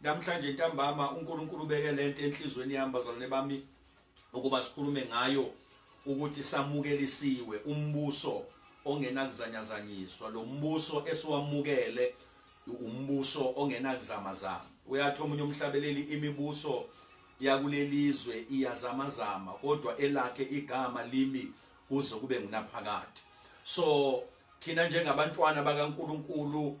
Namhlanje ntambama uNkulunkulu ubeke lento enhlizweni yami bazalwane bami ukuba sikhulume ngayo ukuthi samukelisiwe umbuso ongenakuzanyazanyiswa lo mbuso esiwamukele umbuso ongenakuzamazama uyathi omunye umhlabeleli imibuso yakulelizwe iyazamazama kodwa elakhe igama limi kuze kube ngunaphakade so thina njengabantwana bakaNkuluNkulu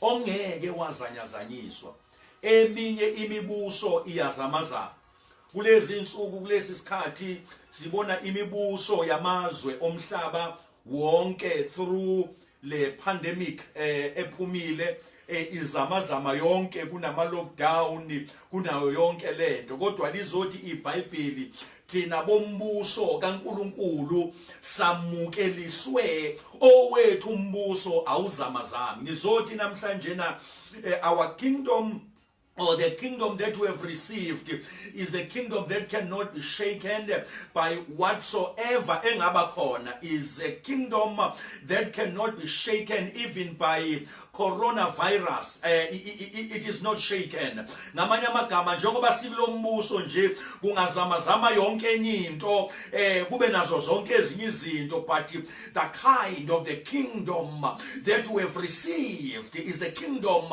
ongeke wazanyazanyiswa eminye imibuso iyazamazana kulezi insuku kulesi sikhathi sibona imibuso yamazwe omhlaba wonke through le pandemic eh, ephumile eh, izamazama yonke kunama lockdown kunayo yonke lento kodwa lizothi iBhayibheli Thina bombuso kaNkulunkulu samukeliswe owethu umbuso awuzamazami. Ngizothi namhlanje na eh, our kingdom or the kingdom that we have received is the kingdom that cannot be shaken by whatsoever engaba khona is a kingdom that cannot be shaken even by coronavirus eh, it is not shaken ngamanye amagama njengoba sikulombuso nje kungazama zama yonke enye into eh kube nazo zonke ezinye izinto but the kind of the kingdom that we have received is the kingdom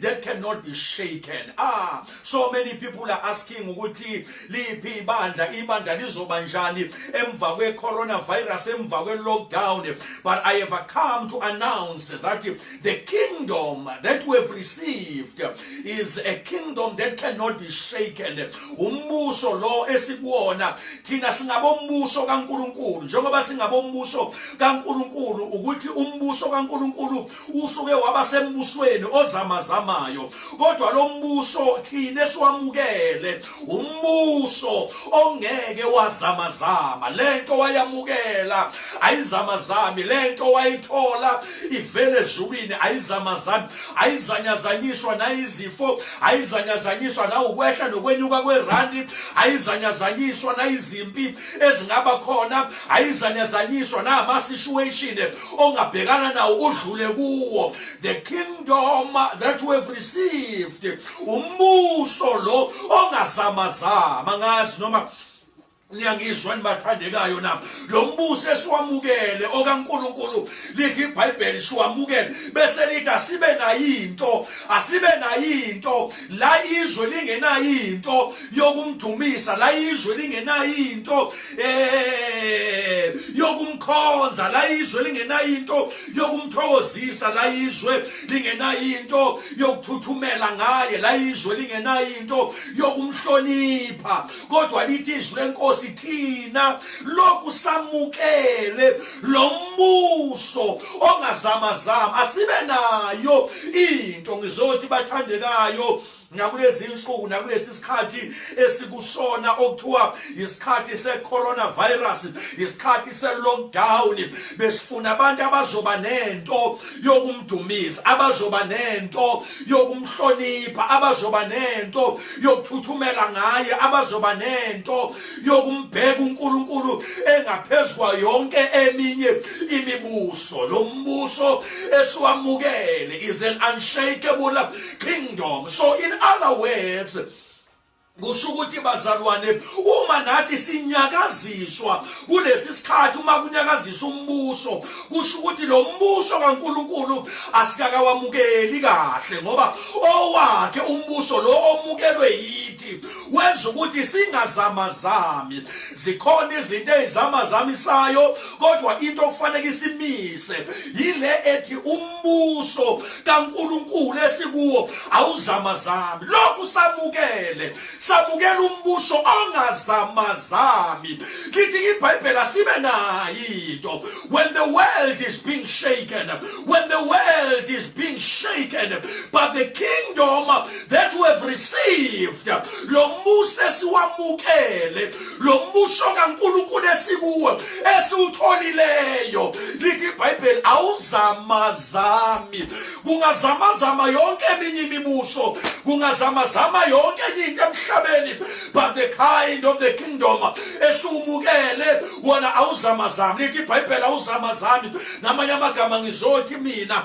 that cannot be shaken ah so many people are asking ukuthi liphi ibandla ibandla lizoba njani emva kwe-coronavirus emva kwe-lockdown but i have come to announce that the kingdom that we have received is a kingdom that cannot be shaken umbuso lo esikuwona thina singabombuso kankulunkulu njengoba singabombuso kankulunkulu ukuthi umbuso kankulunkulu usuke waba sembusweni ozamazamayo kodwa lo mbuso thina esiwamukele umbuso ongeke wazamazama lento wayamukela ayizamazami lento wayithola ivele ezulwini ayizamazami ayizanyazanyiswa nayizifo ayizanyazanyiswa nawukwehla nokwenyuka kwerandi ayizanyazanyiswa nayizimpi ezingaba khona ayizanyazanyiswa nama situation ongabhekana nawo udlule kuwo the kingdom that we have received umbuso lo ongazamazama ngazi noma niyangizwa nibathandekayo na lo mbuso esiwamukele okaNkuluNkulu lithi iBhayibheli siwamukele bese lithi asibe nayinto asibe nayinto la izwe lingenayinto yokumdumisa la izwe lingenayinto eh yokumkhonza la izwe lingenayo into yokumthokozisa la izwe lingenayo into yokuthuthumela ngaye la izwe lingenayo into yokumhlonipha kodwa lithi izwi lenkosi thina lokhu samukele lo mbuso ongazamazama asibe nayo into ngizothi bathandekayo nakulezi nsuku nakulesi sikhathi esikusona okuthiwa isikhathi se-coronavirus isikhathi se-lockdown besifuna abantu abazoba nento yokumdumisa abazoba nento yokumhlonipha abazoba nento yokuthuthumela ngaye abazoba nento yokumbheka uNkulunkulu engaphezwa yonke eminye imibuso lo mbuso esiwamukele is an unshakable kingdom so in other words kusho ukuthi bazalwane uma nathi sinyakaziswa kulesi sikhathi uma kunyakazisa umbuso kusho ukuthi lo mbuso kaNkuluNkulu asikakawamukeli kahle ngoba owakhe umbuso lo omukelwe yithi wenza ukuthi singazamazami zikhona izinto ezizamazamisayo kodwa into okufanele isimise yile ethi umbuso kaNkulunkulu esikuwo awuzamazami lokhu samukele samukela umbuso ongazamazami lithi ibhayibheli asibe nayinto when the world is being shaken when the world is being shaken but the kingdom that we have received lo mbuso esiwamukele lo mbuso kaNkulunkulu esikuwo esiwutholileyo lithi iBhayibheli awuzamazami kungazamazama yonke eminye imibuso kungazamazama yonke enye into emhlabeni but the kind of the kingdom esiwumukele wona awuzamazami lithi iBhayibheli awuzamazami namanye amagama ngizothi mina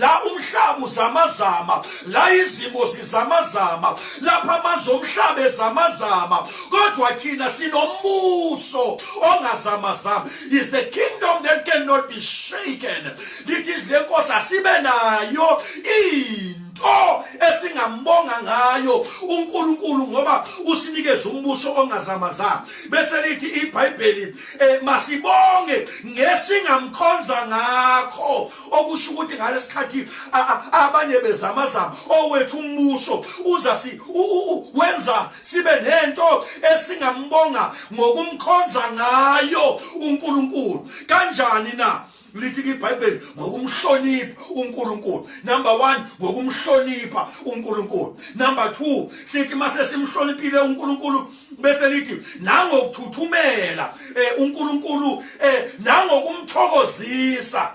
la umhlaba uzamazama la izimo zizamazama lapha amazwe omhlaba ezamazama kodwa thina sinombuso ongazamazama is the kingdom that cannot be shaken lithi izile nkosi asibe nayo ini into esingambonga ngayo uNkulunkulu ngoba usinikeza umbuso ongazamazanga bese lithi iBhayibheli eh, masibonge ngesingamkhonza ngakho okusho ukuthi ngalesikhathi abanye bezamazama owethu umbuso uza si wenza sibe nento esingambonga ngokumkhonza ngayo uNkulunkulu kanjani na lithi iBhayibheli ngokumhlonipha uNkulunkulu number 1 ngokumhlonipha uNkulunkulu number 2 sithi mase simhloniphile uNkulunkulu bese lithi nangokuthuthumela eh, uNkulunkulu eh, nangokumthokozisa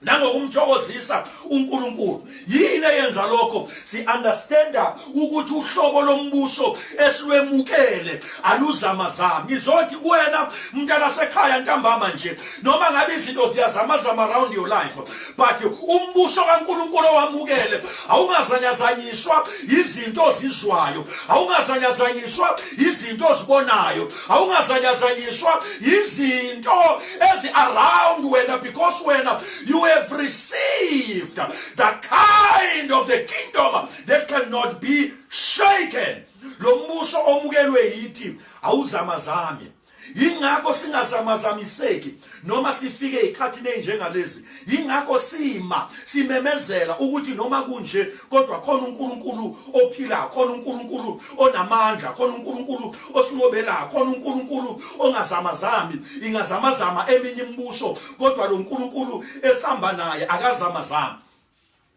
nangokumthokozisa uNkulunkulu yini eyenza lokho si understanda ukuthi uhlobo lombuso esiwemukele aluzama zama ngizothi kuwena mntana sekhaya ntambama nje noma ngabe izinto ziyazama zama around your life but umbuso kaNkuluNkulu owamukele awungazanyazanyiswa izinto ozizwayo awungazanyazanyiswa izinto ozibonayo awungazanyazanyiswa izinto ezi around wena because wena you have received the kind of the kingdom that cannot be shaken lo mbuso omukelwe yithi awuzamazami Yingakho singazamazamiseki noma sifike ezikhathini ezinjengalezi. Yingakho sima simemezela ukuthi noma kunje kodwa khona uNkulunkulu ophilayo, khona uNkulunkulu onamandla, khona uNkulunkulu osinqobelayo, khona uNkulunkulu ongazamazami. Ingazamazama eminye imibuso kodwa lo Nkulunkulu esihamba naye akazamazami.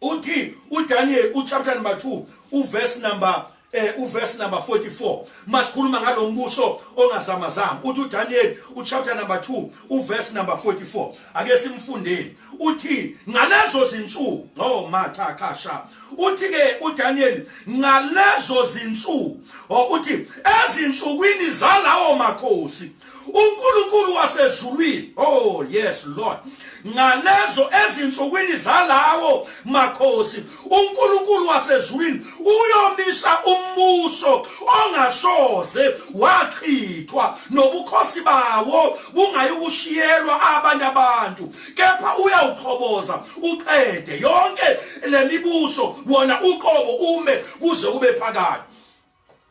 Uthi uDaniel uchapter number 2 uverse number eh uverse number 44 masikhuluma ngalombuso ongazamazama uthi uDaniel uchapter number 2 uverse number 44 ake simfundeni uthi ngalezo zinsuku oh matha kasha uthi ke uDaniel ngalezo zinsuku oh, uthi ezinsukwini zalawo makhosi uNkulunkulu wasezulwini oh yes lord ngalezo ezinsukwini zalawo makhosi uNkulunkulu wasezulwini uyomisa umbuso ongasoze wachithwa nobukhosi bawo bungayikushiyelwa abanye abantu kepha uyawuqhoboza uqede yonke lemibuso wona uqobo ume kuze kube phakade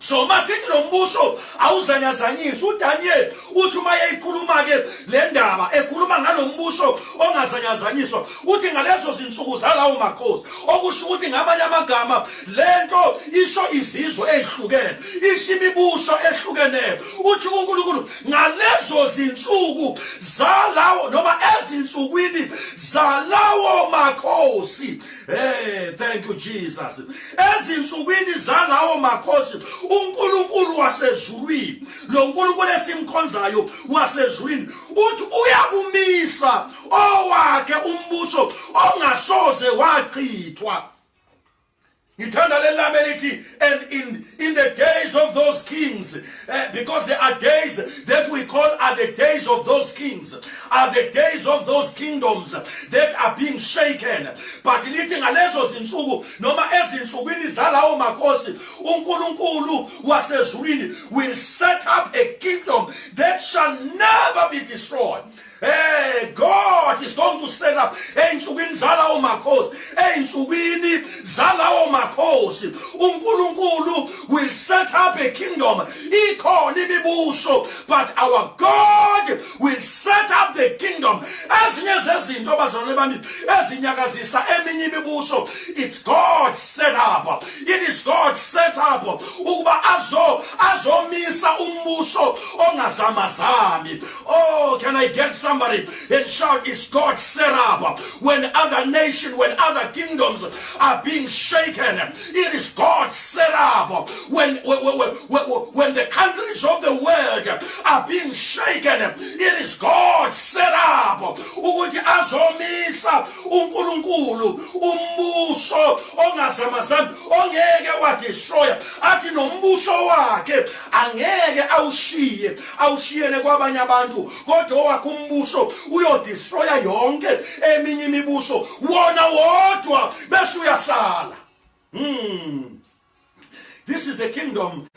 so uma sithi lo mbuso awuzanyazanyiswa udaniyeli uthi uma yeyikhuluma-ke le ndaba ekhuluma ngalo mbuso ongazanyazanyiswa uthi ngalezo zinsuku zalawo makhosi okusho ukuthi ngamanye amagama le nto isho izizwe ezihlukene isho imibuso ehlukeneyo uthi unkulunkulu ngalezo zinsuku zalawo noma ezinsukwini zalawo makhosi Hey, thank you Jesus. Ezinsukwini zalawo makhosi uNkulunkulu wasezulwini, lo Nkulunkulu esimkhonzayo wasezulwini uthi uyakumisa owakhe umbuso ongasoze wachithwa. Ngithanda lelame lithi and in in the days of those kings Eh, because there are days that we call are the days of those kings are the days of those kingdoms that are being shaken but lithi ngalezo zinsuku noma ezinsukwini zalawo makhosi uNkulunkulu wasezulwini will set up a kingdom that shall never be destroyed Hey God is going to set up ensukwini zalawo makhosi ensukwini zalawo makhosi uNkulunkulu will set up a kingdom ikhona imibuso but our God will set up the kingdom ezinye zezinto abazalwane bami ezinyakazisa eminye imibuso it's God set up it is God set up ukuba azo azomisa umbuso ongazamazami Oh, can I get somebody and shout, Is God set up? When other nations, when other kingdoms are being shaken, it is God set up. When, when, when, when the countries of the world are being shaken, it is God set up. Ukuthi azomisa uNkulunkulu umbuso ongazamazami ongeke wadestroya athi nombuso wakhe angeke awushiye awushiyele kwabanye abantu kodwa owakho umbuso uyodestroya yonke eminye imibuso wona wodwa bese uyasala hmm. this is the kingdom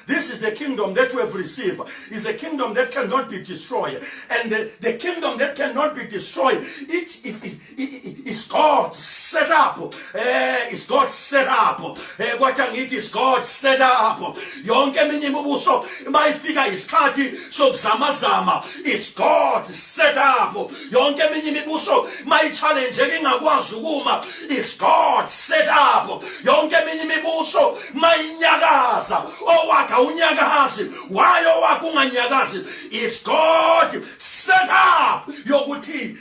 This is the kingdom that we have received. Is a kingdom that cannot be destroyed. And the, the kingdom that cannot be destroyed, it is, It's God set up. Eh, it's God set up. Eh, kwathi angithi it's God set up. Yonke eminye imibuso mayifika isikhathi sokuzama zama. It's God set up. Yonke eminye imibuso mayichallenge ingakwazi ukuma. It's God set up. Yonke eminye imibuso mayinyakaza. Owakha unyakazi. Why owakha unganyakazi? It's God set up yokuthi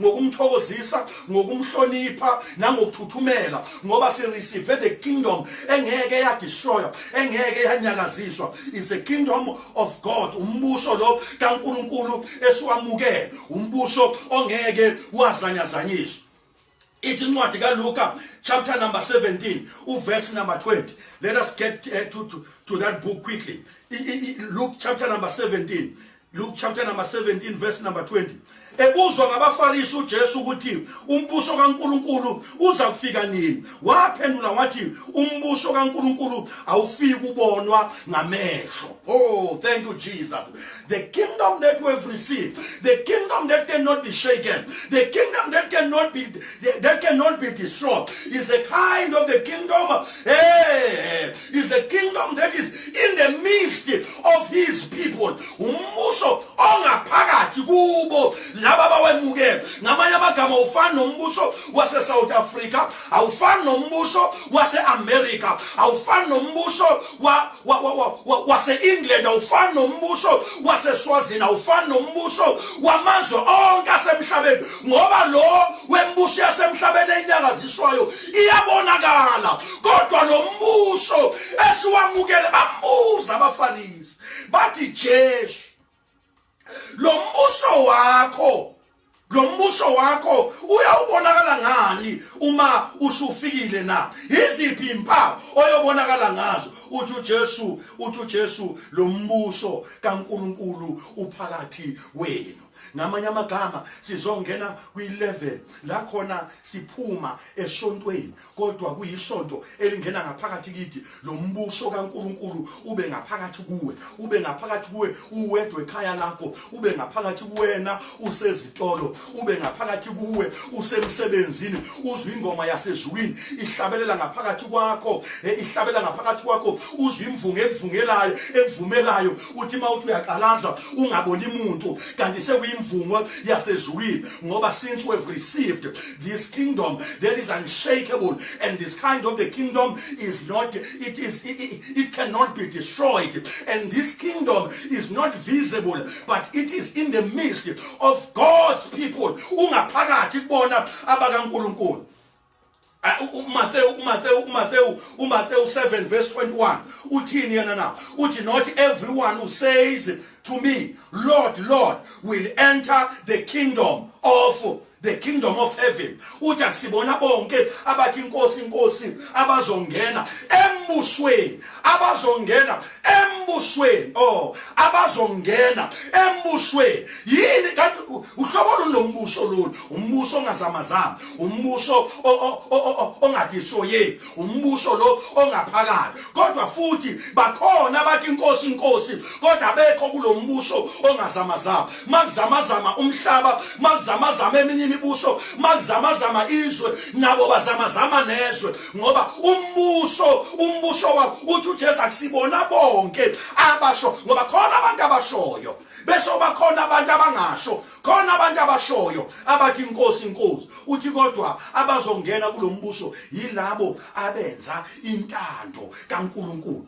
ngokumthokozisa ngokumhlonipha nangokuthuthumela ngoba sireceive the kingdom engeke yadestroya engeke yanyakaziswa is the kingdom of god umbuso lo kaNkuluNkulu esiwamukele umbuso ongeke wazanyazanyiswa ithi incwadi kaLuka chapter number 17 uverse number 20 let us get uh, to, to, to that book quickly Luke chapter number 17 Luke chapter number 17 verse number 20 ebuzwa ngabafarisi uJesu ukuthi umbuso kaNkuluNkulu uza kufika nini waphendula wathi umbuso kaNkuluNkulu awufiki kubonwa ngamehlo oh thank you Jesus the kingdom that we have received the kingdom that cannot be shaken the kingdom that cannot be that cannot be destroyed is a kind of the kingdom Hey, is a kingdom that is in the midst of his people. Umbuso ongaphakathi kubo laba bawemukele. Ngamanye amagama ufana nombuso wase South Africa, awufani nombuso wase America, awufani nombuso wa, wa, wa, wa, wa wase England, awufani nombuso wase Swazini, awufani nombuso wamazwe onke asemhlabeni ngoba lo wembuso yasemhlabeni enyakaziswayo iyabonakala kodwa lo mbuso esiwamukele bambuza abafarisi bathi jesu lo mbuso wakho lo mbuso wakho uyawubonakala ngani uma usufikile na iziphi impawu oyobonakala ngazo uthi uJesu uthi uJesu lo mbuso kaNkuluNkulu uphakathi wenu ngamanye amagama sizongena kwi-level la khona siphuma esontweni kodwa kuyisonto elingena ngaphakathi kithi lo mbuso kaNkuluNkulu ube ngaphakathi kuwe ube ngaphakathi kuwe uwedwe ekhaya lakho ube ngaphakathi kuwena usezitolo ube ngaphakathi kuwe usemsebenzini uzwe ingoma yasezulwini ihlabelela ngaphakathi kwakho eh, ihlabelela ngaphakathi kwakho uzwe imvunge ekuvungelayo ekuvumelayo kuthi uma uthi uyaqalaza ungaboni muntu kanti sekuyimvumo yasezulwini ngoba since we have received this kingdom that is unshakable and this kind of the kingdom is not it is it, it cannot be destroyed and this kingdom is not visible but it is in the midst of God's people ungaphakathi kubona abakaNkuluNkulu uMathewu uMathewu uMathewu uMathewu 7 verse 21 uthini yena na uthi not everyone who says to me lord lord will enter the kingdom of the kingdom of heaven uthi akusibona bonke abathi inkosi inkosi abazongena embusweni abazongena embusweni oh abazongena embusweni yini kanti uhlobo luni lombuso lolu umbuso ongazamazama umbuso ongadishoye umbuso lo ongaphakala kodwa futhi bakhona abathi inkosi inkosi kodwa bekho kulombuso ongazamazama makuzamazama umhlaba makuzamazama eminye imibuso makuzamazama izwe nabo bazamazama nezwe ngoba umbuso umbuso wabo uthi uJesu akusibona bonke abasho ngoba khona abantu abashoyo bese bakhona abantu abangasho khona abantu abashoyo abathi inkosi inkosi uthi kodwa abazongena kulombuso yilabo abenza intando kaNkuluNkulu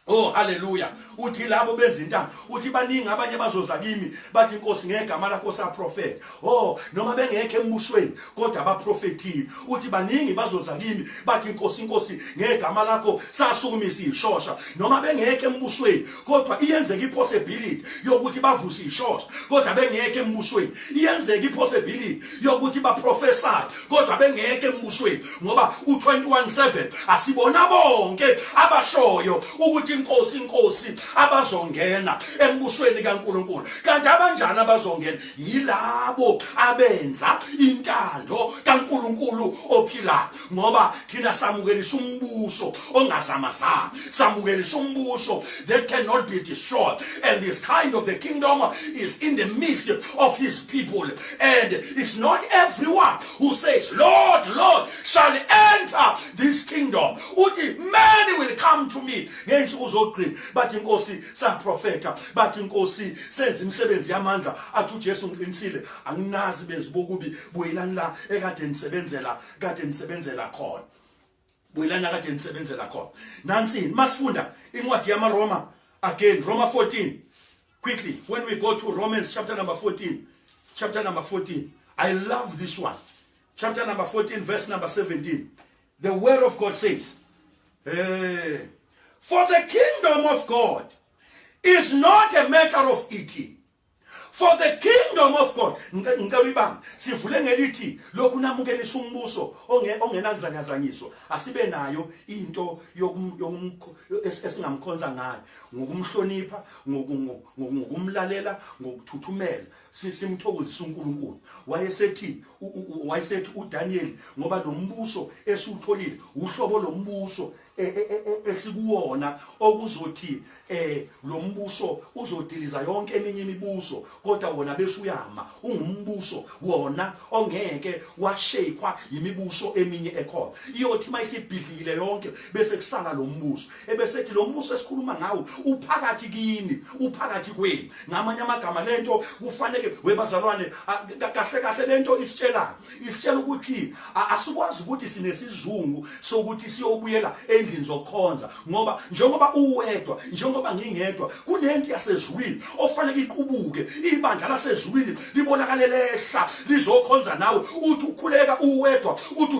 Oh haleluya uthi labo bezintanga uthi baningi abanye bazoza kimi bathi inkosi ngegama lakho saprofeta oh noma bengekho embushweni kodwa abaprofethile uthi baningi bazoza kimi bathi inkosi inkosi ngegama lakho sasukumisa ishosha noma bengekho embushweni kodwa iyenzeka ipossibility yokuthi bavuse ishosha kodwa bengekho embushweni iyenzeka ipossibility yokuthi baprofesayo kodwa bengeke embushweni ngoba u-217 asibona bonke abashoyo ukuthi inkosi inkosi abazongena embushweni kaNkuluNkulu kanti abanjani abazongena yilabo abenza intando kaNkuluNkulu ophilayo ngoba thina samukelisa umbuso ongazamazama samukelisa umbuso that cannot be destroyed and this kind of the kingdom is in the midst of his people and it's not everyone who says lord lord shall enter this kingdom uthi many will come to me ngensuku zogcina bathi inkosi saprofeta bathi inkosi senza imisebenzi yamandla athi ujesu ngiqinisile anginazi benzibokubi buyelani la ekade nisebenzela kade nisebenzela khona buyelani la kade nisebenzela khona nansini masifunda incwadi yamaroma again roma 14 quickly when we go to romans chapter number 14 chapter number 14 i love this one chapter number 14 verse number 17 the word of god says hey, eh, for the kingdom of god is not a matter of eating for the kingdom of god ngicela uyibanga sivule ngelithi lokhu namukelisa umbuso ongenakuzanyazanyiswa asibe nayo into esingamkhonza ngayo ngokumhlonipha ngokumlalela ngokuthuthumela simthokozisa uNkulunkulu wayesethi wayesethi uDaniel ngoba nombuso esiwutholile uhlobo lombuso esikuwona okuzothi eh lo mbuso uzodiliza yonke eminye imibuso kodwa wona besuyama ungumbuso wona ongeke washekwa yimibuso eminye ekhona iyothi mayisibhidlikile yonke bese kusala lo mbuso ebesethi lo mbuso esikhuluma ngawo uphakathi kini uphakathi kwenu ngamanye amagama lento kufanele webazalwane kahle kahle lento isitshelana isitshela ukuthi asikwazi ukuthi sinesizungu sokuthi siyobuyela endlini zokukhonza ngoba njengoba uwedwa njengoba ngingedwa kunento yasezwini ofanele iqubuke ibandla lasezwini libonakale lehla lizokhonza nawe uthi ukhuleka uwedwa uthi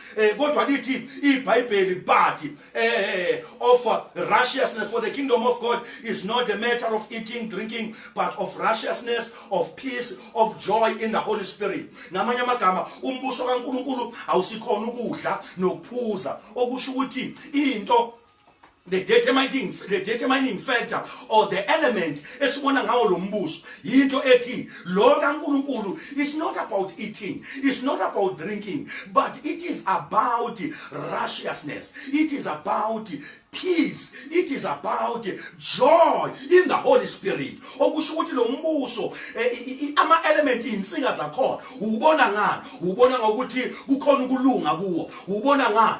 eh kodwa lithi iBhayibheli but eh of righteousness for the kingdom of God is not a matter of eating drinking but of righteousness of peace of joy in the holy spirit namanye amagama umbuso kaNkuluNkulu awusikhona ukudla nokuphuza okusho ukuthi into the determining, the determining factor or the element esibona ngawo lo mbuso yinto ethi lo kaNkulunkulu is not about eating is not about drinking but it is about righteousness it is about peace it is about joy in the holy spirit okusho ukuthi lo mbuso eh, ama element izinsinga zakhona ubona ngani ubona ngokuthi kukhona ukulunga kuwo ubona ngani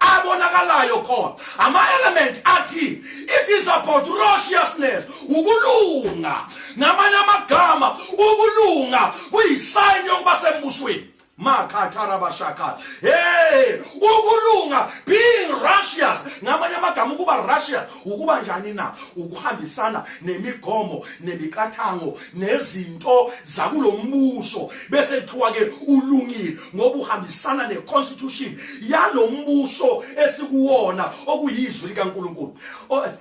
abonakalayo khona ama-elementi athi it is about roshiousness ukulunga ngamanye amagama ukulunga kuyisayini yokuba sembusweni makhatharabashakhala hey ukulunga being russious ngamanye amagama ukuba russious ukuba njani na ukuhambisana nemigomo nemiqathango nezinto zakulombuso bese kuthiwa ke ulungile ngoba uhambisana neconstitution yalombuso esikuwona okuyizwi likaNkuluNkulu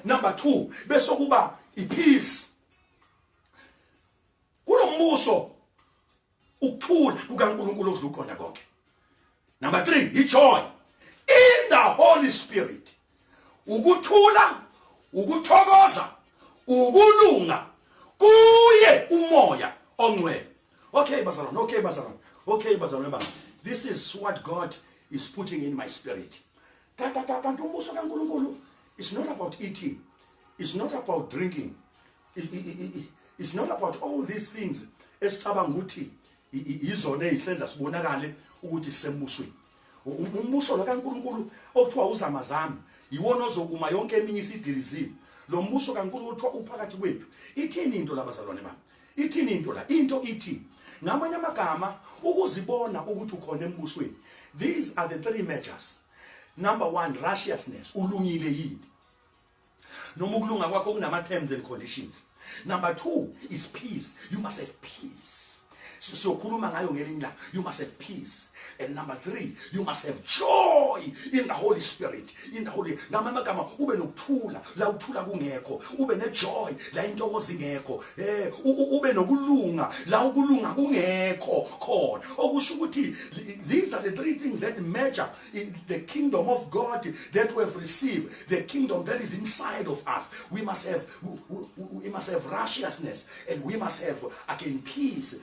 number 2 bese kuba ipeace kulombuso ukuthula kukaNkulunkulu okudla uqonda konke number 3 ijoy in the holy spirit ukuthula ukuthokoza ukulunga kuye umoya ongcwele okay bazalwane okay bazalwane okay bazalwane bami this is what god is putting in my spirit kanti umbuso kaNkulunkulu is not about eating is not about drinking is not about all these things esicabanga ukuthi yizona ezisenza sibonakale ukuthi sembusweni umbuso lo kaNkulunkulu okuthiwa uzamazami yiwona ozokuma yonke eminye isidilizile lo mbuso kaNkulunkulu kuthiwa uphakathi kwethu ithini into labazalwane bami Ithini into la? Into ithi ngamanye amagama ukuzibona ukuthi ukhona embusweni. These are the three measures. Number 1 righteousness, ulungile yini? Noma ukulunga kwakho kunama terms and conditions. Number 2 is peace. You must have peace. Sizokhuluma ngayo ngelinye ilanga. You must have peace. and number three you must have joy in the holy spirit in the holy ngamanye amagama ube nokuthula la uthula kungekho ube nejoy la intokozo ingekho eh ube nokulunga la ukulunga kungekho khona okusho ukuthi these are the three things that measure the kingdom of god that we have received the kingdom that is inside of us we must have we, we, we must have righteousness and we must have again peace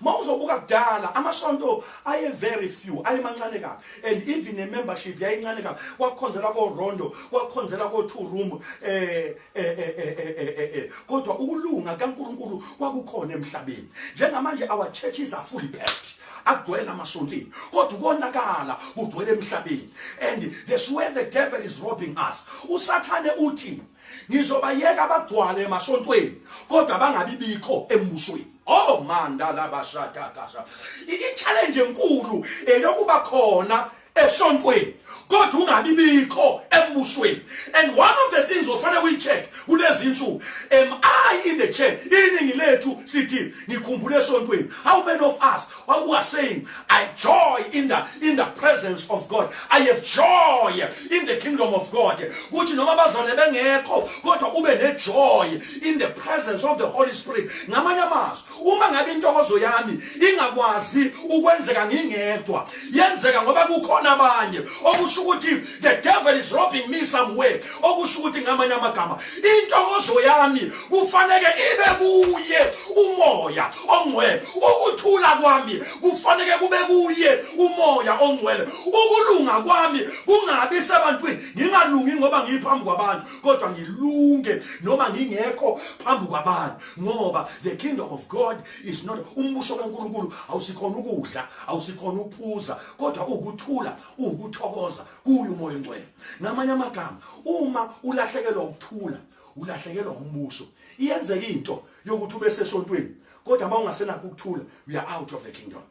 mawuzobuka kudala amasonto aye very few ayemancane kabi and even ne membership yayincane kabi kwakukhonzela ko rondo kwakukhonzela ko two room eh eh eh eh eh, eh, eh, eh kodwa ukulunga kaNkuluNkulu kwakukhona emhlabeni njengamanje our churches are fully packed agcwele amasontini kodwa ukonakala kugcwele emhlabeni and this where the devil is robbing us usathane uthi ngizobayeka bagcwale emasontweni kodwa bangabi bikho embusweni oh manda labashada kasha i-challenge enkulu eyokuba khona esontweni kodwa ungabi bikho embusweni and one of the things ofanele uyi-check kulezi nsuku am i in the church iningi lethu sithi ngikhumbule esontweni how many of us What we are saying, I joy in the in the presence of God. I have joy in the kingdom of God. Kuthi noma bazane bengekho kodwa ube ne joy in the presence of the Holy Spirit. Ngamanye amazwi, uma ngabe intokozo yami ingakwazi ukwenzeka ngingedwa, yenzeka ngoba kukhona abanye. Okusho ukuthi the devil is robbing me somewhere. Okusho ukuthi ngamanye amagama, intokozo yami kufanele ibe kuye umoya. ongcwele ukuthula kwami kufanele kube kuye umoya ongcwele ukulunga kwami kungabi sebantwini ngingalungi ngoba ngiphambi kwabantu kodwa ngilunge noma ngingekho phambi kwabantu ngoba the kingdom of god is not umbuso kaNkuluNkulu awusikhona ukudla awusikhona ukuphuza kodwa ukuthula ukuthokoza kuyo umoya ongcwele ngamanye amagama uma ulahlekelwa ukuthula ulahlekelwa umbuso iyenzeka into yokuthi ube sesontweni kodwa uma ungasenakho ukuthula we are out of the kingdom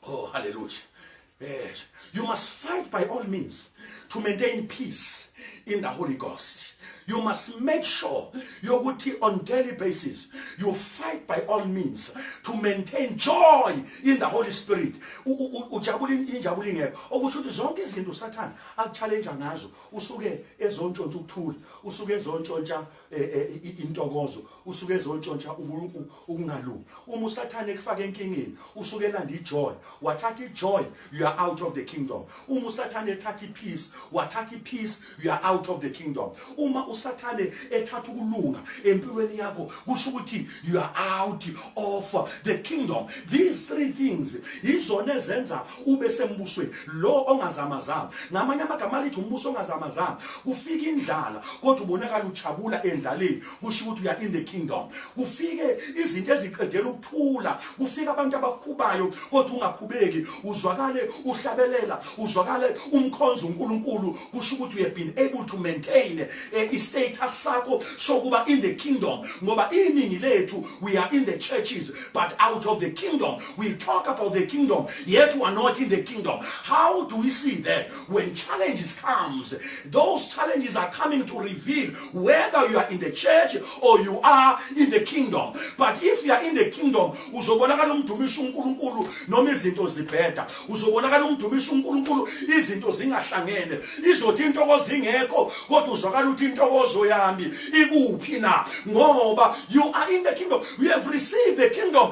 oh hallelujah yes you must fight by all means to maintain peace in the holy ghost you must make sure yokuthi on daily basis you fight by all means to maintain joy in the holy spirit ujabula injabulo ingekho okusho ukuthi zonke izinto usathane akuchallenge ngazo usuke ezontshontsha ukuthula usuke ezontshontsha Eh, eh, intokozo usuke ezontshontsha uNkulunkulu ukungalungi uma usathane ekufaka enkingeni usuke elanda ijoy wathatha ijoy you are out of the kingdom uma usathane ethatha ipeace wathatha ipeace you are out of the kingdom uma usathane ethatha ukulunga empilweni yakho kusho ukuthi you are out of the kingdom these three things izona ezenza kube sembusweni lo ongazamazama ngamanye amagama alithi umbuso ongazamazama kufika indlala kodwa ubonakala ujabula endlaleni kusho ukuthi uya in the kingdom kufike izinto eziqedela ukuthula kufika abantu abakhubayo kodwa ungakhubeki uzwakale uhlabelela uzwakale umkhonza uNkulunkulu kusho ukuthi you have been able to maintain eh, i status sakho sokuba in the kingdom ngoba iningi lethu we are in the churches but out of the kingdom We talk about the kingdom, yet we are not in the kingdom. How do we see that? When challenges comes, those challenges are coming to reveal whether you are in the church or you are in the kingdom. But if you are in the kingdom, uzobonakala umdumisa uNkulunkulu noma izinto zibheda. Uzobonakala umdumisa uNkulunkulu izinto zingahlangene. Izothi intokozo ingekho kodwa uzwakala ukuthi intokozo yami ikuphi na? Ngoba you are in the kingdom. You have received the kingdom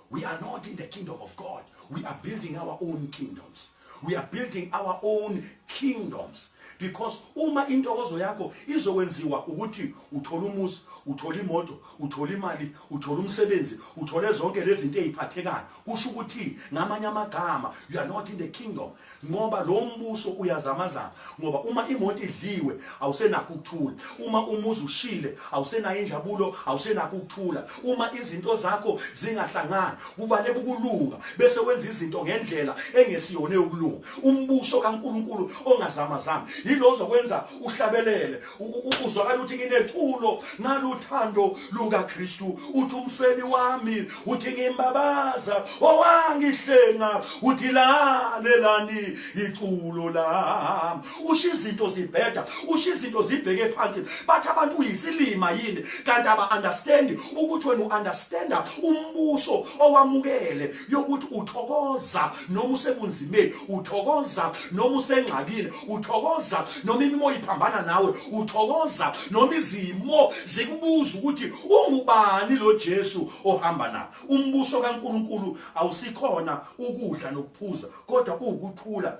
We are not in the kingdom of God. We are building our own kingdoms. We are building our own kingdoms because uma intokozo yakho izokwenziwa ukuthi uthole umuzi uthole imoto uthole imali uthole umsebenzi uthole zonke lezi zinto eziphathekayo kusho ukuthi ngamanye amagama you are not in the kingdom ngoba lo mbuso uyazamazama ngoba uma imoto idliwe awusenakho ukuthula uma umuzi ushile awusenayo injabulo awusenakho ukuthula uma izinto zakho zingahlangani kubaleka ukulunga bese wenza izinto ngendlela engesiyona yokulunga umbuso kaNkuluNkulu ongazamazami yilozo kwenza uhlabelele uzwakala ukuthi ngineculo naluthando lukaKristu uthi umfeli wami uthi ngimbabaza owangihlenga uthi lalelani iculo lami usho izinto zibheda usho izinto zibheke phansi bathi abantu uyisilima yini kanti aba-understandi ukuthi wena u-understanda umbuso owamukele yokuthi uthokoza noma usebunzimeni uthokoza noma usengxakile uthokoza noma imimoya iphambana nawe uthokoza noma izimo zikubuza ukuthi ungubani lo Jesu ohamba nawe umbuso kaNkuluNkulu awusikhona ukudla nokuphuza kodwa ukuthula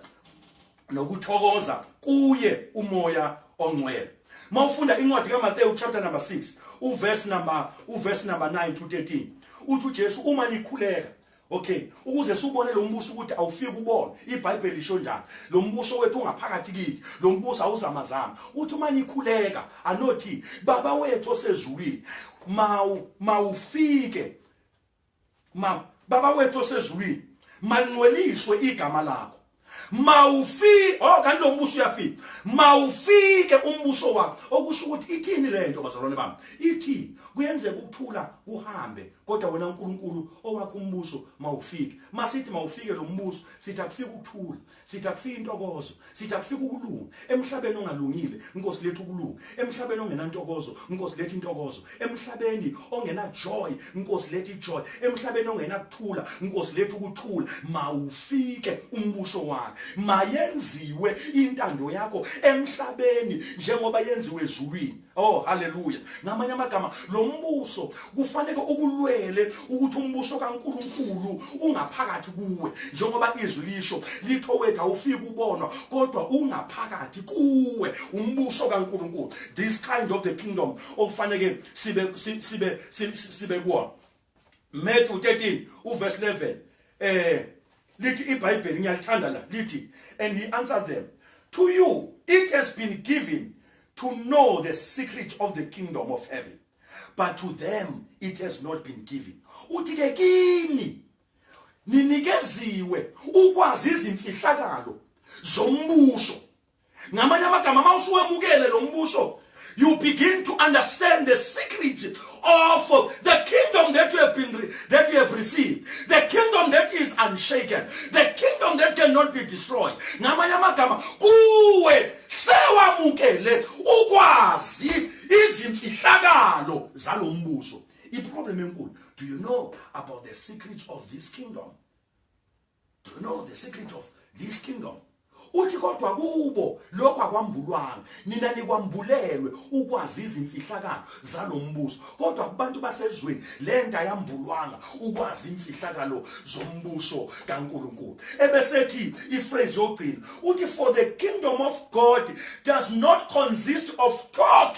nokuthokoza kuye umoya ongcwele mawufunda incwadi kaMathewu chapter number 6 uverse number uverse number 9 to 13 uthi uJesu uma nikhuleka okay ukuze siubone lo mbuso ukuthi awufiki ubone ibhayibheli lisho njani lo mbuso wethu ungaphakathi kithi lo mbuso awuzamazama uthi uma nikhuleka anothi baba wethu osezulwini mawu mawufike Ma baba wethu osezulwini malingcweliswe igama lakho mawufi oh kanti lo mbuso uyafika mawufike umbuso wakho okusho ukuthi ithini lento bazalwane bami ithi kuyenzeka ukuthula kuhambe kodwa wena uNkulunkulu owakho umbuso mawufike masithi mawufike lo mbuso sithi akufike ukuthula Sithi akufike intokozo, sithi akufike ukulunga. Emhlabeni ongalungile, Nkosi lethu ukulunga. Emhlabeni ongenantokozo, Nkosi lethu intokozo. Emhlabeni ongena joy, Nkosi lethu ijoy. Emhlabeni ongena kuthula, Nkosi lethu ukuthula. Mawufike umbuso wakho. Mayenziwe intando yakho emhlabeni njengoba yenziwe ezulwini. Oh haleluya. Ngamanye amagama lo mbuso kufanele ukulwele ukuthi umbuso kaNkuluNkulu ungaphakathi kuwe njengoba izwi lisho litho wethu awufiki ubonwa kodwa ungaphakathi kuwe umbuso kaNkuluNkulu. This kind of the kingdom okufanele sibe sibe sibe kuona. Matthew 13 uverse 11 eh lithi iBhayibheli ngiyalithanda la lithi and he answered them to you it has been given to know the secret of the kingdom of heaven but to them it has not been given uthi ke kini ninikeziwe ukwazi izimfihlakalo zombuso ngamanye amagama uma usuwemukele lo mbuso you begin to understand the secret of the kingdom that you have been that you have received the kingdom that is unshaken the kingdom that cannot be destroyed ngamanye amagama kuwe sewamukele ukwazi izimfihlakalo zalombuso iproblem enkulu do you know about the secrets of this kingdom to know the secret of this kingdom uthi kodwa kubo lokho akwambulwanga nina nikwambulelwe ukwazi izimfihlakalo zalombuso kodwa kubantu basezweni lento ayambulwanga ukwazi imfihlakalo zombuso kaNkuluNkulu ebesethi iphrase yogcina uthi for the kingdom of God does not consist of talk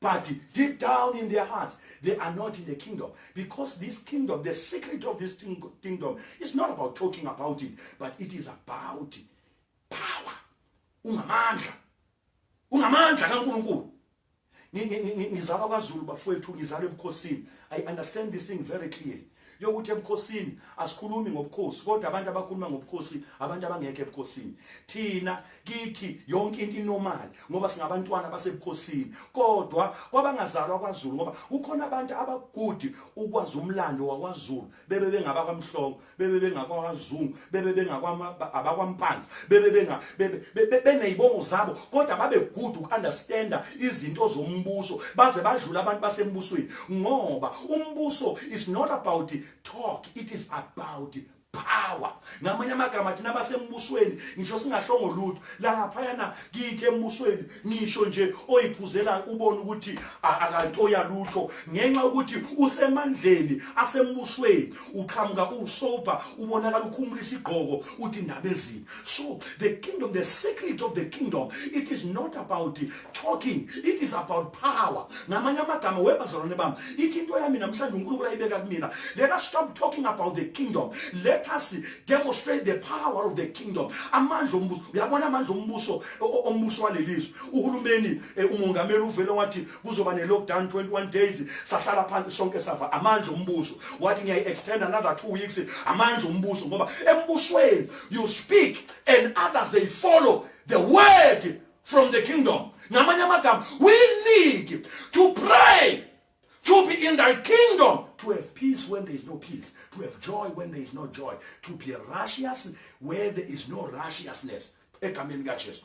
But deep down in their hearts, they are not in the kingdom. Because this kingdom, the secret of this kingdom, is not about talking about it, but it is about power. Ungamandla. Ungamandla kaNkulunkulu. ngizalwa kwazulu bafowethu ngizalwa ebukhosini i understand this thing very clearly yokuthi ebukhosini asikhulumi ngobukhosi kodwa abantu abakhuluma ngobukhosi abantu abangekho ebukhosini thina kithi yonke into inormal ngoba singabantwana basebukhosini kodwa kwabangazalwa kwaZulu ngoba kukhona abantu abagudi ukwazi umlando wakwaZulu bebe bengaba kwamhlongo bebe bengakwaZungu bebe bengakwampanzi bebe benga beneyibongo zabo kodwa babe good ukunderstanda izinto zombuso baze badlula abantu basembusweni ngoba umbuso is not about talk it is about power ngamanye amagama thina basembusweni ngisho singashongo lutho lapha yana kithi embusweni ngisho nje oyiphuzelayo ubona ukuthi akantoya lutho ngenxa yokuthi usemandleni asembusweni uqhamuka usober ubonakala ukhumula isigqoko uthi indaba ezini so the kingdom the secret of the kingdom it is not about talking it is about power ngamanye amagama webazalwane bami ithi into yami namhlanje unkulunkulu ayibeka kumina let us stop talking about the kingdom let us demonstrate the power of the kingdom amandla ombuso uyabona amandla ombuso ombuso walelizwe uhulumeni eh, umongameli uvele wathi kuzoba ne lockdown 21 days sahlala phansi sonke sava amandla ombuso wathi ngiyayi extend another 2 weeks amandla ombuso ngoba embusweni you speak and others they follow the word from the kingdom ngamanye amagama we need to pray To be in thy kingdom, to have peace when there is no peace, to have joy when there is no joy, to be righteous where there is no righteousness. Egameni kaJesu.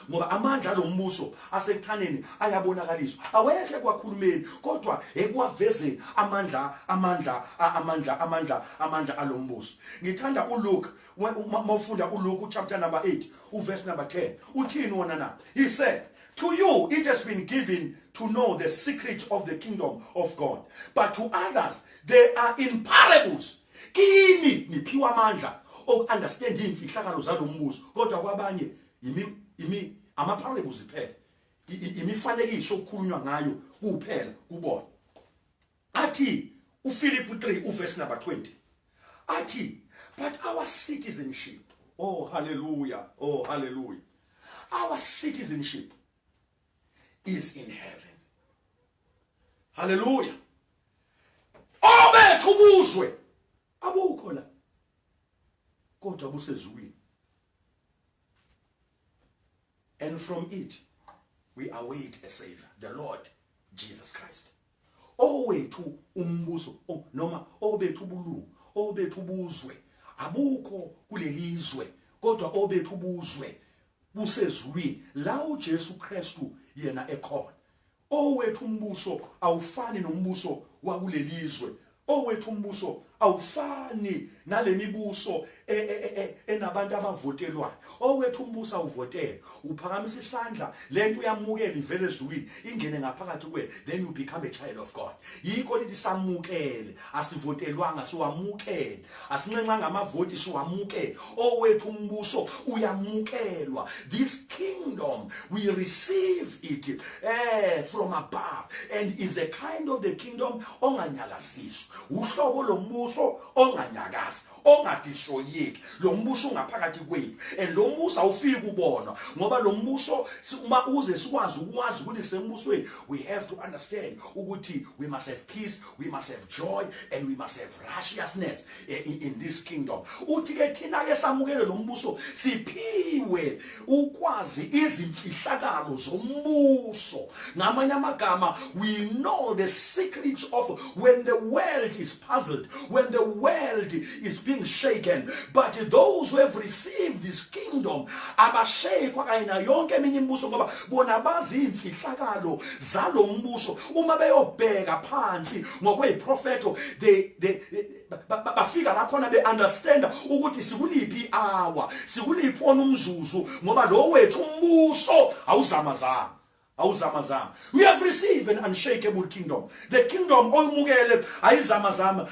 ngoba amandla alombuso asekuthaneni ayabonakaliswa awekho ekwakhulumeni kodwa ekwavezeni amandla amandla amandla amandla amandla alombuso ngithanda uLuke mawufunda uLuke chapter number 8 uverse number 10 uthini wona na he said To you, it has been given to know the secret of the kingdom of God. But to others, they are in parables. Kini niphiwa amandla oku-understand iy'mfihlakalo zalo mbuso kodwa kwabanye ama-parables kuphela imifanekiso okukhulunywa ngayo kuphela kubona Athi, uFiliphu 3 uvesi number 20, athi, But our citizenship, oh hallelujah, oh hallelujah, our citizenship is in heaven. Hallelujah. Obethu ubuzwe abukho la kodwa busezulwini and from it we await a savior the lord jesus christ owethu umbuso oh, noma obethu ubulungu obethu ubuzwe abukho kulelizwe kodwa obethu ubuzwe busezulwini la uJesu Kristu yena ekhona Owethu umbuso awufani nombuso wakulelizwe. Owethu umbuso awufani nalemibuso e, e, e, enabantu abavotelwayo. Owethu umbuso awuvotele. Uphakamisa isandla, lento uyamukela ivele ezulwini, ingene ngaphakathi kuwe, then you become a child of God. Yikho lithi samukele. Asivotelwanga siwamukele, asinxenxanga amavoti siwamukele. Owethu umbuso uyamukelwa. This kingdom we receive it eh from above and is a kind of the kingdom onganyakaziswa. Uhlobo lombuso onganyakazi, ongadistroyeki lo mbuso ungaphakathi kwethu and lo mbuso awufiki kubonwa ngoba lo mbuso uma uze sikwazi ukwazi ukuthi sembusweni we have to understand ukuthi we must have peace we must have joy and we must have righteousness eh, in, in this kingdom uthi ke thina ke samukele lo mbuso siphiwe ukwazi izimfihlakalo zombuso ngamanye amagama we know the secrets of when the world is puzzled when the world is being shaken but those who have received this kingdom abashekwa kanye nayo yonke eminye imibuso ngoba bona bazi iy'mfihlakalo zalo mbuso uma beyobheka phansi ngokweyiprofetho they, they, bafika la khona be-understanda ukuthi sikuliphi i-hour sikuliphi wona umzuzu ngoba lo wethu umbuso awuzamazama awuzamazama we have received an unshakable kingdom the kingdom oyimukele ayizamazama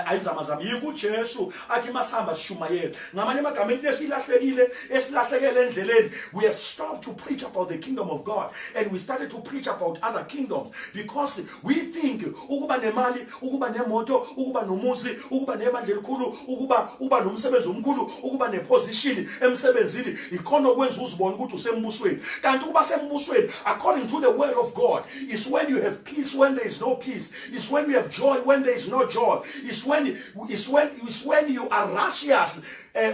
ayizamazama yikho uJesu athi masihamba sishumayela ngamanye amagama into esilahlekile esilahlekele endleleni we have stopped to preach about the kingdom of God and we started to preach about other kingdoms because we think ukuba nemali ukuba nemoto ukuba nomuzi ukuba nebandla elikhulu ukuba uba nomsebenzi omkhulu ukuba neposition emsebenzini ikhona okwenza uzibona ukuthi usembusweni kanti ukuba sembusweni according to the word of God is when you have peace when there is no peace It's when you have joy, when there is no joy. It's when, it's when, it's when you are righteous. Uh,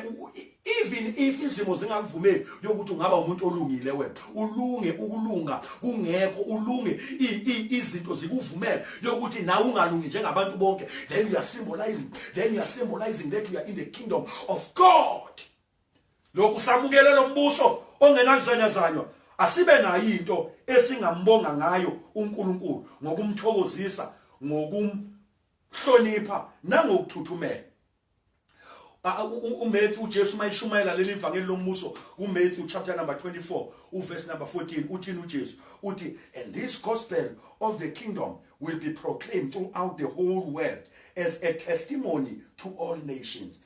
even if izimo zingakuvumeli yokuthi ungaba umuntu olungile wena ulunge ukulunga kungekho ulunge izinto zikuvumela yokuthi nawe ungalungi njengabantu bonke then you are symbolizing then you are symbolizing that you are in the kingdom of God Lokhu samukele lo mbuso ongenakuzanyazanywa asibe nayo into esingambonga ngayo uNkulunkulu ngokumthokozisa ngokumhlonipha nangokuthuthumela uMatthew uJesu mayishumayela leli vangeli lombuso kuMatthew chapter number 24 uverse number 14 uthini uJesu uthi and this gospel of the kingdom will be proclaimed throughout the whole world as a testimony to all nations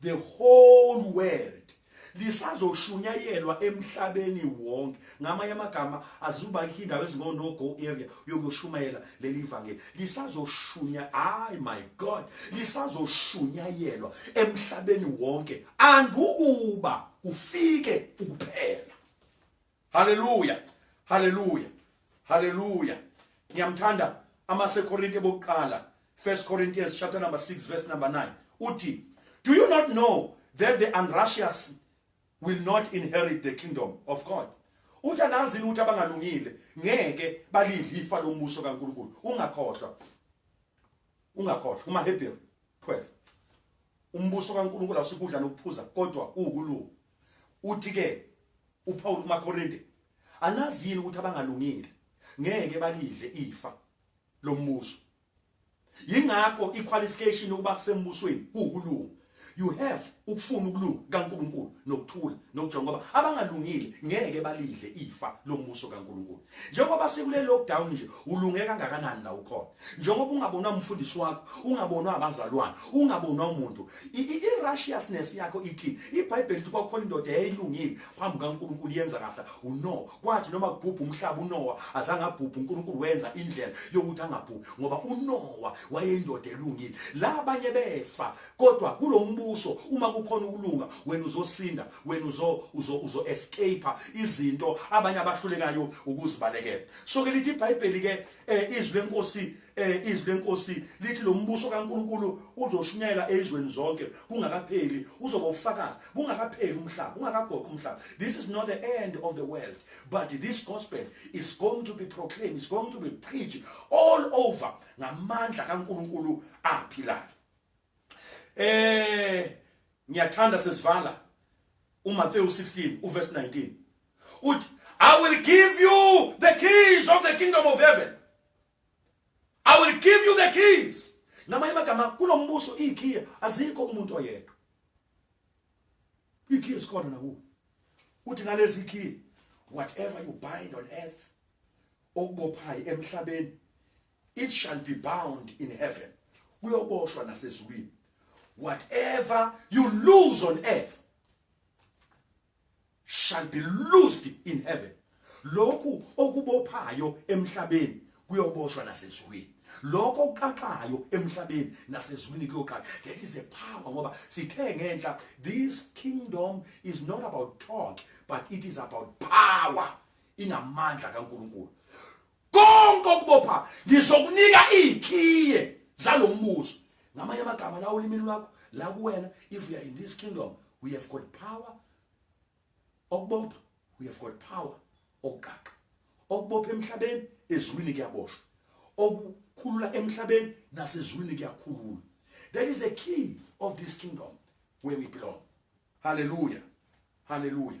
the whole world lisazoshunyayelwa emhlabeni wonke ngamanye amagama azuba ikho indawo ezingono go area yokushumayela leli vangeli lisazoshunya ay my god lisazoshunyayelwa emhlabeni wonke andukuba kufike ukuphela Hallelujah. Hallelujah. Hallelujah. Ngiyamthanda amaseKorinte bokuqala 1 Corinthians chapter number 6 verse number 9 uthi do you not know that the unrighteous will not inherit the kingdom of God uthi anazi ukuthi abangalungile ngeke balidle ifa lombuso kaNkuluNkulu ungakhohlwa ungakhohlwa uma Hebrew 12 umbuso kaNkuluNkulu awusikudla nokuphuza kodwa uwukulunga Uthi ke uPaul kumaKorinte, anazi yini ukuthi abangalungile ngeke balidle ifa lombuso. Yingakho iqualification yokuba kusembusweni kuwukulunga. You have ukufuna ukulunga kaNkuluNkulu nokuthula nokujonga ngoba abangalungile ngeke balidle ifa lombuso kaNkuluNkulu. njengoba sekule lockdown nje ulunge kangakanani la ukhona njengoba ungabonwa umfundisi wakho ungabonwa abazalwane ungabonwa umuntu i-righteousness yakho ithi ibhayibheli lithi kwakukhona indoda eyayilungile phambi kankulunkulu yenza kahle unowa kwathi noma kubhubha umhlaba unowa azange abhubhe unkulunkulu wenza indlela yokuthi angabhubhi ngoba unowa wayeyindoda elungile la abanye befa kodwa kulombuso uma kukhona ukulunga wena uzosinda wena uzo uzo uzo escape izinto abanye abahlulekayo ukuzibalekela so ke lithi iBhayibheli ke eh, izwi lenkosi eh, izwi lenkosi lithi lombuso kaNkuluNkulu uzoshunyela ezweni zonke kungakapheli uzoba ufakazi kungakapheli umhlaba ungakagoqi umhlaba this is not the end of the world but this gospel is going to be proclaimed is going to be preached all over ngamandla kaNkuluNkulu aphilayo eh ngiyathanda sesivala uMathewu 16 uverse 19 uthi I will give you the keys of the kingdom of heaven I will give you the keys ngamanye amagama kulombuso ikhiya azikho umuntu oyedwa ikhiya sikhona nakuwe uthi ngalezi ikhiya whatever you bind on earth okubophayo emhlabeni It shall be bound in heaven. Kuyoboshwa nasezulwini. Whatever you lose on earth shall be loosed in heaven. Lokhu okubophayo emhlabeni kuyoboshwa nasezulwini. Lokho okuqaqayo emhlabeni nasezulwini kuyoqala. That is the power ngoba sithe ngenhla this kingdom is not about talk but it is about power. Inamandla kaNkuluNkulu. konke okubopha ngizokunika iikhiye zalombuzo ngamanye amagama la ulimini lwakho la kuwena if you are in this kingdom we have got power okubopha we have got power okuqaqa okubopha emhlabeni ezulwini kuyaboshwa okukhulula emhlabeni nasezulwini kuyakhulula that is the key of this kingdom where we belong hallelujah hallelujah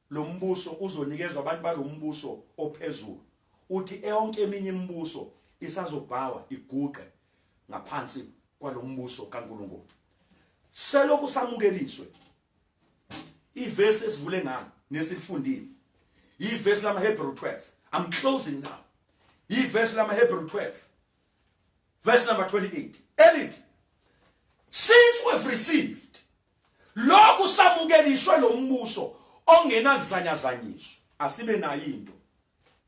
Lo mbuso uzonikezwa abantu balo mbuso ophezulu, uthi eyonke eminye imibuso isazobhawa iguqe ngaphansi kwalo mbuso kaNkulunkulu. Selokhu samukeliswe ivesi esivule ngalo nesilifundile yivesi lamaHebrew 12. I'm closing now. Yivesi lamaHebrew 12 verse number 28 elithi since we've received Lokhu samukelishwe lo mbuso ongenakuzanyazanyiswa, asibe nayo into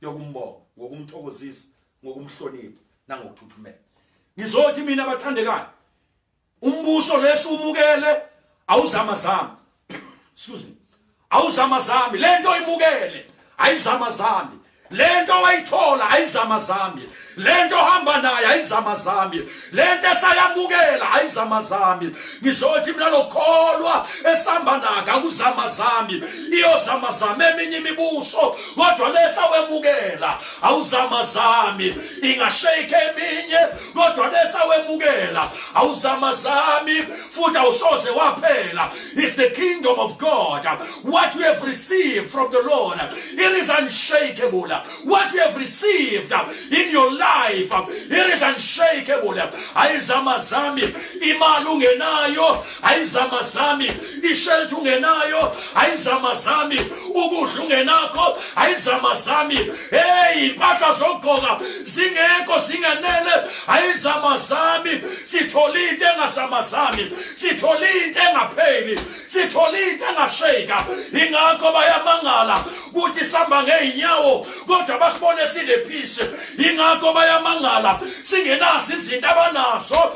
yokumbonga ngokumthokozisa, ngokumhlonipha nangokuthuthumela. Ngizothi mina bathandekayo, umbuso lesiwumukele awuzamazama. Excuse me. awuzama zami lento imukele ayizama zami lento wayithola ayizama zami lento hamba naye ayizama zami lento esayamukela ayizama zami ngizothi mina lokholwa esihamba naka kuzama zami iyozama zami eminye imibuso kodwa lesa wemukela awuzama zami ingashake eminye kodwa bese awemukela awuzamazami futhi awusoze waphela is the kingdom of god what we have received from the lord it is unshakable what we have received in your life it is unshakable ayizamazami imali ungenayo ayizama zami ishelthi ungenayo ayizama zami ukudla ungenakho ayizama zami hey impahla zokugqoka zingekho zingenele ayizama zami sithola into engazama zami sithola into engapheli sithola into engashayika ingakho bayamangala ukuthi sihamba ngeyinyawo kodwa basibone sinephisi ingakho bayamangala singenazo izinto abanazo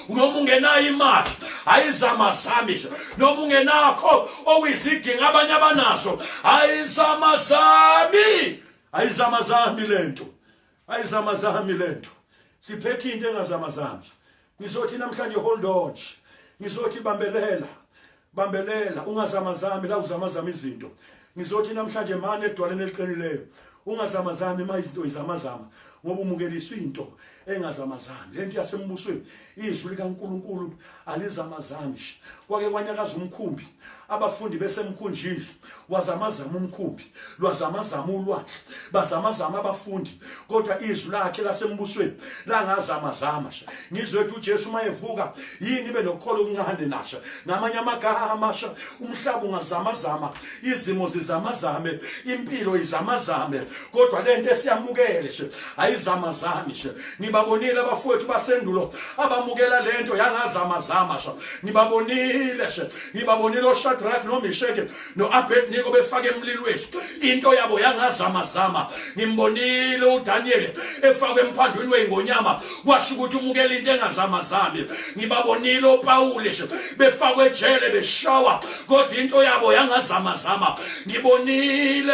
noma ungenayo imali ayizama zami nje noma ungenakho okuyizidingo abanye abanazo ayizama zami ayizama zami lento ayizama zami lento siphethe into engazama zami ngizothi namhlanje hold on ngizothi bambelela bambelela ungazamazami la uzamazama izinto ngizothi namhlanje mane edwaleni eliqinileyo ungazamazami uma izinto izamazama ngoba umukeliswa into engazamazami lento yasembusweni izwi likaNkuluNkulu alizamazami kwake kwanyakaza umkhumbi abafundi besemkhunjini wazamazama umkhumbi lwazamazama ulwandle bazamazama abafundi kodwa izwi lakhe lasembusweni langazamazama nje ngizwe ethi uJesu uma evuka yini ibe nokukholo okuncane nasha ngamanye amagama amasha umhlaba ungazamazama izimo zizamazame impilo izamazame kodwa lento esiyamukele nje ayizamazami nje ngibabonile abafowethu basendulo abamukela lento yangazamazama nje ngibabonile nje ngibabonile oShadrach noMeshach noAbednego befake emlilweni into yabo yangazama zama ngimbonile uDaniel efakwe emphandweni weingonyama kwasho ukuthi umukela into engazama zami ngibabonile oPawule befakwe ejele beshawa kodwa into yabo yangazama zama ngibonile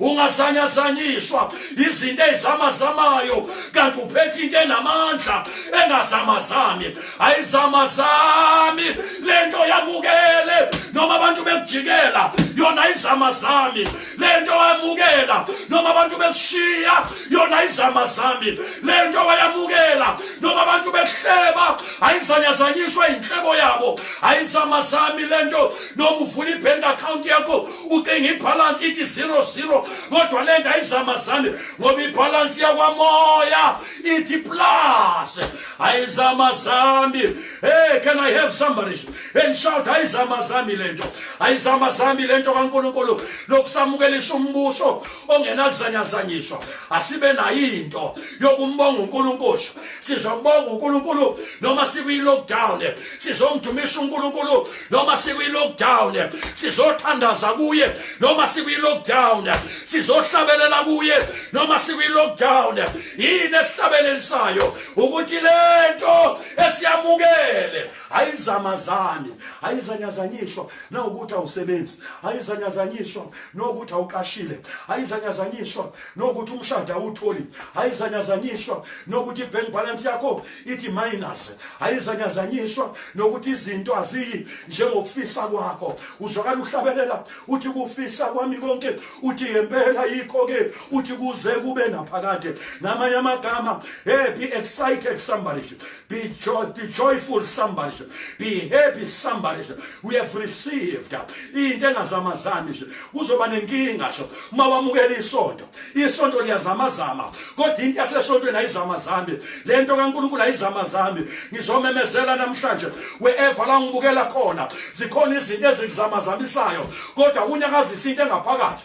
ungazanyazanyiswa izinto ezamazamayo kanti uphethe into enamandla engazamazami ayizamazami le nto yamukele noma abantu bekujikela yona ayizamazami le nto wayamukela noma abantu bekushiya yona ayizamazami le nto wayamukela noma abantu bekuhleba ayizanyazanyiswa yinhlebo yabo ayizamazami le nto noma uvula i-bank account yakho ucinga ibhalansi ithi zero zero kodwa le nto ayizamazane ngoba ibhalansi yakwamoya ithi plus ayizamazami hey can i have somebody and shout ayizamazami le nto ayizamazami le nto kankulunkulu lokusamukelisa umbuso ongenazanyazanyiswa asibe nayo into yokumbonga unkulunkulu sizobonga uNkulunkulu noma sikwi-lockdown sizomdumisa uNkulunkulu noma sikwi-lockdown sizothandaza kuye noma sikwi-lockdown sizohlabelela kuye noma sikwi-lockdown yini esihlabelelisayo ukuthi lento esiyamukele ayizamazani ayizanyazanyiswa nawukuthi awusebenzi ayizanyazanyiswa nokuthi awuqashile ayizanyazanyiswa nokuthi umshado awutholi ayizanyazanyiswa nokuthi i-bank balance yakho ithi minus ayizanyazanyiswa nokuthi izinto aziyi njengokufisa kwakho uzwakala uhlabelela uthi kufisa kwami konke uthi ngempela yikho-ke uthi kuze kube naphakade namanye amagama hey be excited somebody Be, joy, be joyful somebody nje. Be happy somebody nje. We have received into engazamazami nje. Kuzoba nenkinga nje uma wamukela isonto. Isonto liyazamazama. Kodwa into yasesontweni ayizamazami. Le nto kaNkulunkulu ayizamazami. Ngizomemezela namhlanje wherever la ngibukela khona zikhona izinto ezikuzamazamisayo kodwa kunyakazisa into engaphakathi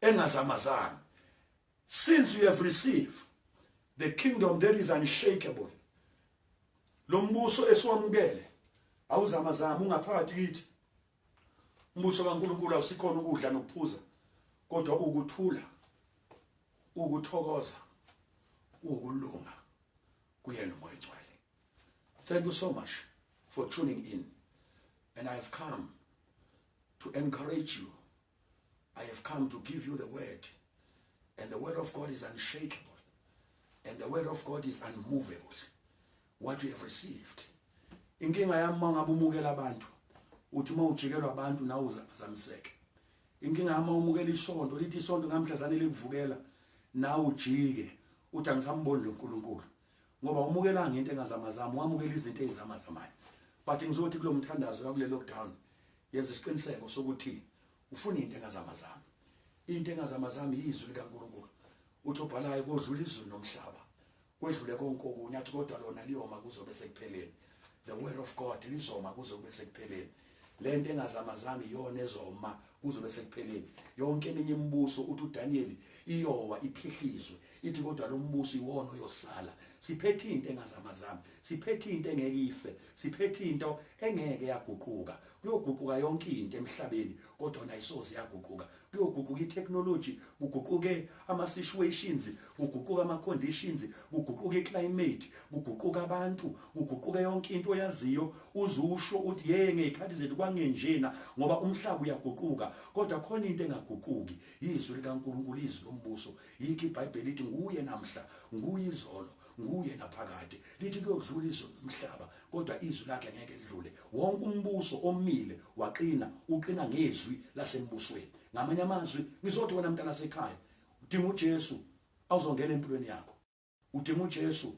engazamazanga since you have received the kingdom that is unshakable lo mbuso esiwamukele awuzamazama ungaphakathi kithi umbuso kaNkuluNkulu awusikhona ukudla nokuphuza kodwa ukuthula ukuthokoza ukulunga kuyena umoya ongcwele thank you so much for tuning in and i have come to encourage you I have come to give you the word. And the word of God is unshakable. And the word of God is unmovable. What you have received. Inkinga yami uma ngabe umukela abantu uthi uma ujikelwa abantu nawe uzamseke. Inkinga yami umukela isonto lithi isonto ngamhla zanele kuvukela nawe ujike uthi angisamboni loNkulunkulu. ngoba umukelanga ngento engazamazama wamukela izinto ezizamazamayo but ngizothi kulo mthandazo kakule lockdown yenza isiqiniseko sokuthi ufuna into engazamazama into engazamazama yizwi likaNkuluNkulu uthi obhalayo kodlula izulu nomhlaba kwedlule konke okunye athi kodwa lona liyoma kuzobe sekupheleni The word of God lizoma kuze kube sekupheleni. Lento engazamazanga iyona ezoma kuze kube sekupheleni. Yonke eminye imibuso uthi uDaniel iyowa iphihlizwe. Ithi kodwa lo mbuso iwona oyosala. Siphethe into engazamazanga. Siphethe into engeke ife. Siphethe into engeke yaguquka. Kuyoguquka yonke into emhlabeni kodwa nayisoze yaguquka. kuyoguquka itechnology kuguquke ama situations kuguquka ama conditions kuguquka iclimate kuguquka abantu kuguquka yonke into oyaziyo uzusho uthi hey ngezikhathi zethu kwangenjena ngoba umhlaba uyaguquka kodwa khona into engaguquki izwi likaNkuluNkulu izwi lombuso yikho iBhayibheli lithi nguye namhla nguye izolo Nguye naphakade. Lithi kuyodlula izulu nomhlaba, kodwa izwi lakhe ngeke lidlule. Wonke umbuso omile waqina, uqina ngezwi lasembusweni. Ngamanye amazwi, ngizothi wena mntanasekhaya, udinga uJesu awuzongena empilweni yakho. Udinga uJesu,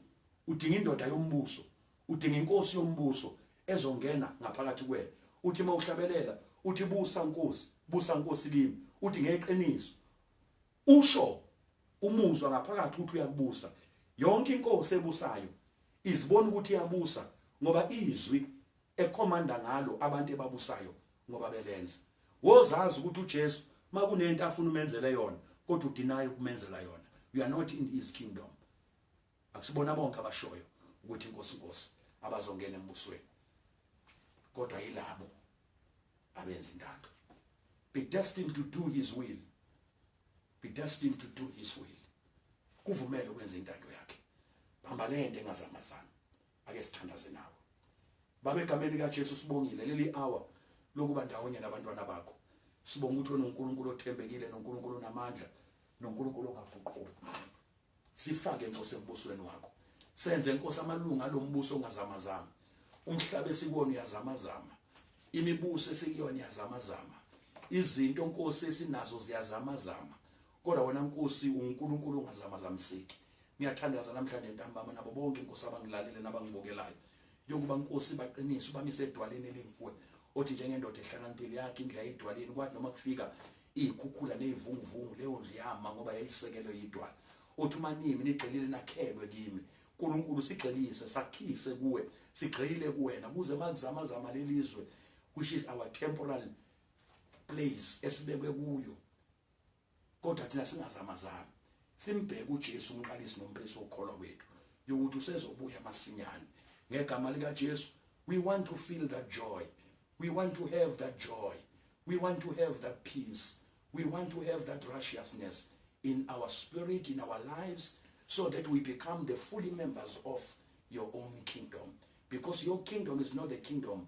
udinga indoda yombuso, udinga inkosi yombuso ezongena ngaphakathi kuwena. Uthi mawuhlabelela, uthi busa Nkosi, busa Nkosi kimi. Uthi ngeqiniso, Usho umuzwa ngaphakathi ukuthi uyakubusa. Yonke inkosi ebusayo izibona ukuthi iyabusa ngoba izwi ekhomanda ngalo abantu ebabusayo ngoba belenza. Wozazi ukuthi uJesu makunento afuna umenzele yona kodwa udinayo kumenzela yona. You are not in his kingdom. Akusibona bonke abashoyo ukuthi inkosi inkosi abazongena embusweni kodwa yilabo abenza intando be destined to do his will be destined to do his will kuvumele ukwenza intando yakhe bamba lento engazamazana Ake sithandaze nawe. Baba egameni lika Jesu sibongile leli hour lokuba ndawonye nabantwana bakho. Sibonga ukuthi uNkulunkulu othembekile noNkulunkulu onamandla noNkulunkulu ongafuqhuba. Sifake inkosi embusweni wakho. Senze inkosi amalunga alombuso ongazamazama. Umhlaba esikwona uyazamazama. Imibuso esikuyona yazamazama. Izinto inkosi esinazo ziyazamazama. Kodwa wena Nkosi unguNkulunkulu ongazamazamiseki. Ngiyathandaza namhlanje ntambama nabo bonke Nkosi abangilalele nabangibukelayo. Yokuba Nkosi baqinise ubamise edwaleni elinguwe. Othi njengendoda ehlakaniphile yakhe indlu yayidwaleni kwathi noma kufika iy'khukhula ney'vunguvungu leyo ndlu yama ngoba yayisekelwe yidwala uthi uma nimi nigxilile nakhelwe kimi nkulunkulu sigxilise sakhise kuwe sigxile kuwena kuze makuzamazama leli zwe which is our temporal place esibekwe kuyo Kodwa thina singazamazami, simbheke uJesu, umqalisi nomphesi wokukholwa kwethu, yokuthi usezobuya masinyane. Ngegama likaJesu, we want to feel that joy. We want to have that joy. We want to have that peace. We want to have that righteousness in our spirit, in our lives, so that we become the fully members of your own kingdom. Because your kingdom is not the kingdom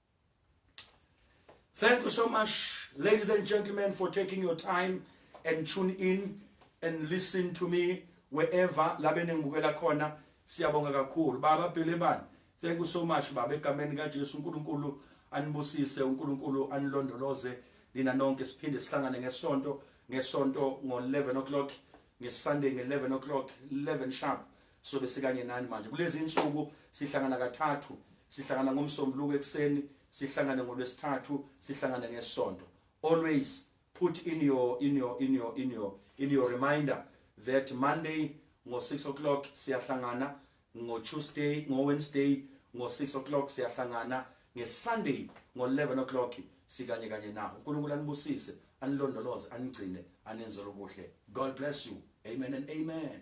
Thank you so much, ladies and gentlemen, for taking your time and tune in and listen to me wherever labe nengibukela khona siyabonga kakhulu baba Bhelebani thank you so much baba egameni kaJesu uNkulunkulu anibusise uNkulunkulu anilondoloze nina nonke siphinde sihlangane ngesonto ngesonto ngo 11 o'clock ngeSunday nge-11 o'clock 11 sharp sobe sikanye nani manje kulezi insuku sihlangana kathathu sihlangana ngomsombuluko ekuseni sihlangane ngolwesithathu sihlangane ngesonto always put in your in your in your in your in your reminder that monday ngo 6 o'clock siyahlangana Ngo Tuesday, ngo Wednesday, ngo 6 o'clock siyahlangana, nge Sunday ngo 11 o'clock sikanye kanye nawe. UNkulunkulu anibusise, anilondoloze, anigcine, anenzele ubuhle. God bless you. Amen and amen.